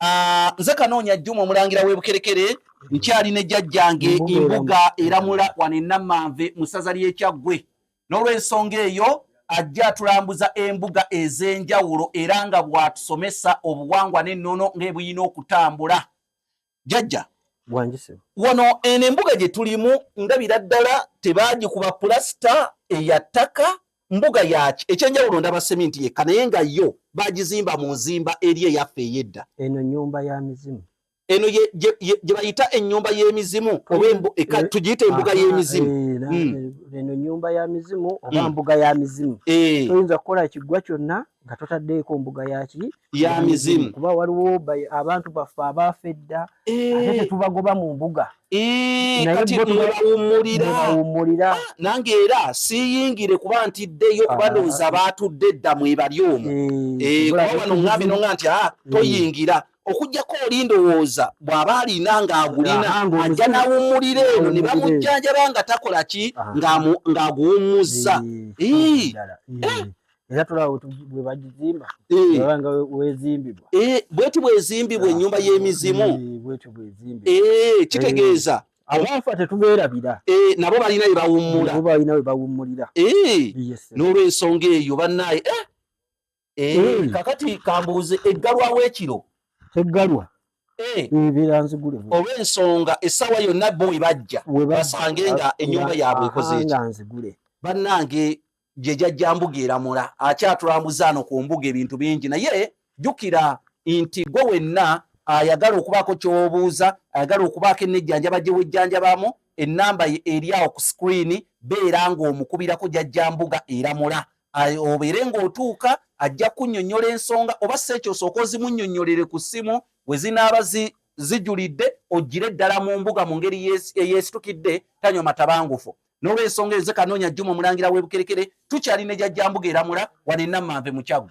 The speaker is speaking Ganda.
Ah, nze kanoonya jjuma omulangira w'ebukerekere nkyali ne jjajjange embuga eramula wano enamanve mu ssaza ly'ekyaggwe n'olw'ensonga eyo ajja atulambuza embuga ez'enjawulo era nga bw'atusomesa obuwangwa n'ennono ng'ebuyina okutambula jjajja wano eno embuga gye tulimu ndabira ddala tebaagikuba pulasita eya ttaka mbuga yaki ekyenjawulo ndaba seminti yekka naye nga yo bagizimba mu nzimba eri eyaffe eyedda eno nyumba ya mizimu eno gye bayita ennyumba y'emizimu oba tugiyita embuga y'emizimu eh, hmm. eno nyumba ya mizimu oba hmm. mbuga ya mizimu eh. toyinza kukola kiggwa kyonna nga totaddeeko mbuga yaki ya mizimu kuba waliwo abantu baffe abaafa edda eh. ate tetubagoba mu mbuga eh, katiwummulira ah, nange era siyingire kuba ntiddeyo ah. kuba ndowooza baatudde dda mwebali omwo eh, kuba wano ŋambi no nga nti a ah, mm. toyingira okujjako oli ndowooza bw'aba alina ng'agulina ajja n'awummulira eno ne bamujjanjaba nga takola ki ng'aguwummuzza era tulaba bwe bagizimba baba nga wezimbibwa bweti bwezimbibwa ennyumba y'emizimu kitegeeza abaafa tetubeerabira nabo balina we bawummula balina we bawummulira n'olwensonga eyo bannaaye kakati kambuuze eggalwawo ekiro eggalwa olw'ensonga essaawa yonna bo we bajja basange nga ennyumba yaabwe ekoze ekyo bannange gye jajja mbuga eramula akyatulambuza ano ku mbuga ebintu bingi naye jjukira nti gwe wenna ayagala okubaako kyobuuza ayagala okubaako enejjanjaba gye wejjanjabamu ennamba eri awo ku sikuriini beera ng'omukubirako jajja mbuga eramula obeere ng'otuuka ajja kunnyonnyola ensonga oba si ekyo osooka ozimunnyonnyolere ku ssimu we zinaaba zijulidde ogire ddala mu mbuga mu ngeri eyesitukidde tanywa matabangufu N'olw'ensonga eyo, nze Kanoonya Juma, Omulangira w'e Bukerekere, tukyali ne Jajjambuga e Lamula, wano e Namanve mu Kyaggwe.